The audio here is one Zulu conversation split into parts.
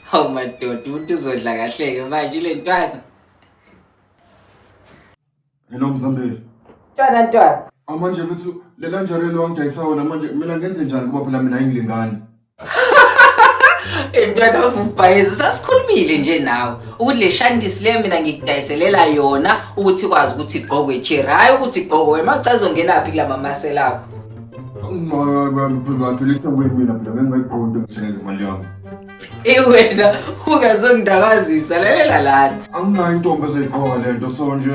Hawu madoda umuntu uzodla kahle-ke manje ile ntwana. Hello Mzambeli. Ntwana ntwana. Amanje futhi lela njalo lonke ayisawona manje mina ngenze njani ngoba phela mina ayingilingani. Mntwana wavubhayiza sasikhulumile nje nawe ukuthi le shandisi le mina ngikudayiselela yona ukuthi ikwazi ukuthi igqokwe ichere hhayi ukuthi igqokwe wena macha izongenaphi kula mamasela akho baphilisa kwenu mina phela ngengayigqondi ngithenele imali yami iwena ungazongidakazisa lalela lana anginayo intombi ezayigqoka le nto so nje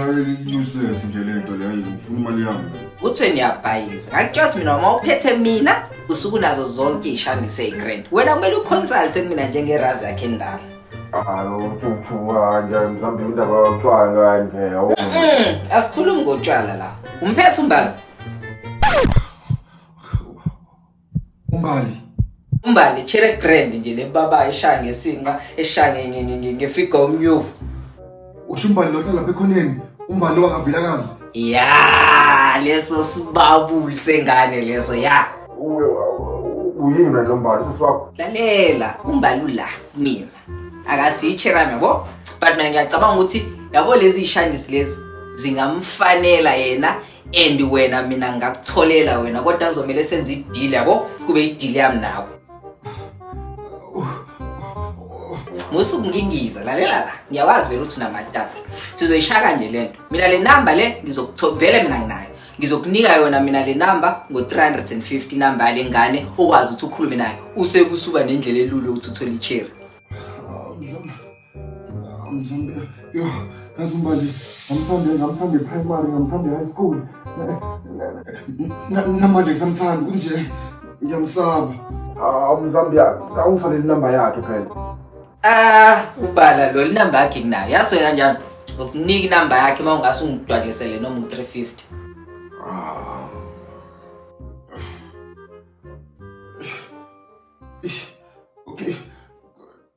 useless nje le nto leyo ngifuna imali yami kuthiwe niyabhayiza ngakutshela ukuthi mina uma uphethe mina usuku nazo zonke ishandise igrand wena kumele uconsulte mina njengerazi yakhe endala asikhulumi ngotshwala la umphethe umbali umbali umbali chere grand nje le baba eshaya ngesinqa eshaya ngefiga umnyuvu usho umbali lo salapha ekhoneni umbali lo wakavilakazi ya leso sibabuli sengane leso ya uwe uyini manje umbali sisi wakho lalela umbali ula mina akasiyitsherami yabo but mina ngiyacabanga ukuthi yabo lezi yishandisi lezi zingamfanela yena and wena mina ngakutholela wena kodwa kuzomele senze idili yabo kube idili yami nawe musa ukungingiza lalela la ngiyawazi vele ukuthi unamatata sizoyishaya kanje le nto mina le namba le ngizokuvele mina nginayo ngizokunika yona mina le namba ngo-350 namba yale ngane okwazi ukuthi ukhulume nayo usekusuba nendlela elula ukuthi uthole icherry Kazumbali, ngamthande ngamthande primary, ngamthande high school. Namanje ngisamthanda kunje ngiyamsaba. Hawu Mzambiya, awungitholele inamba yakhe phela. Ah, ubala lo linamba yakhe nginayo. Yaso kanjani? Ngokunika inamba yakhe uma ungase ungidwalisele noma u-350. Ah. Ish. Okay.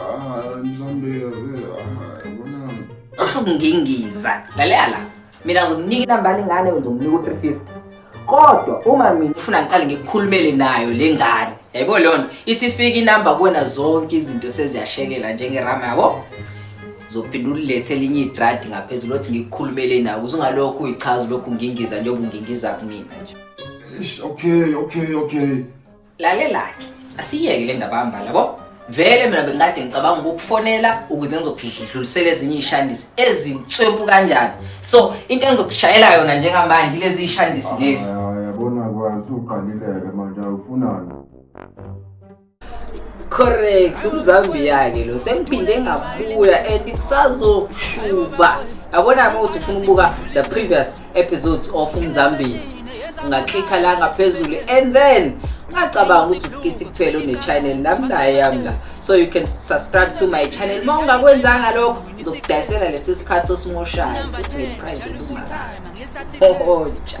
Ah, mzambe, ah, yabona. Akusukungingiza. Lalela la. Mina ngizomnika inambani ingane ngizomnika u-350. Kodwa uma mina ufuna ngiqale ngikukhulumele nayo le ngane. Yayibona leyo nto. Ithi fika inamba kuwena zonke izinto seziyashelela njengerama yabo. Zophinda ulethe elinye idradi ngaphezulu othi ngikukhulumele nayo. Kuze ungalokhu uyichaza lokhu ngingiza njengoba ungingiza kumina nje. Eish, okay, okay, okay. lalelake asiyeke le ndaba hamba labo vele mina bengikade ngicabanga ukukufonela ukuze ngizokudlulisela ezinye iy'shandisi ezinswempu kanjani so into engizokushayela yona njengamanje ilezi y'shandisi lezi yabona kwazi uqalileke manje awufunani correct umzambiya-ke lo sengiphinde ngabuya and kusazoshuba yabona-ke ukuthi ufuna ukubuka the previous episodes of umzambili ungaklikha la ngaphezulu and then ungacabanga ukuthi usikithi kuphela une-channel nami naye yami la so you can subscribe to my channel uma ungakwenzanga lokho ngizokudayisela lesi sikhathi osimoshayo ukuthi ngeprize elumakayo hohoja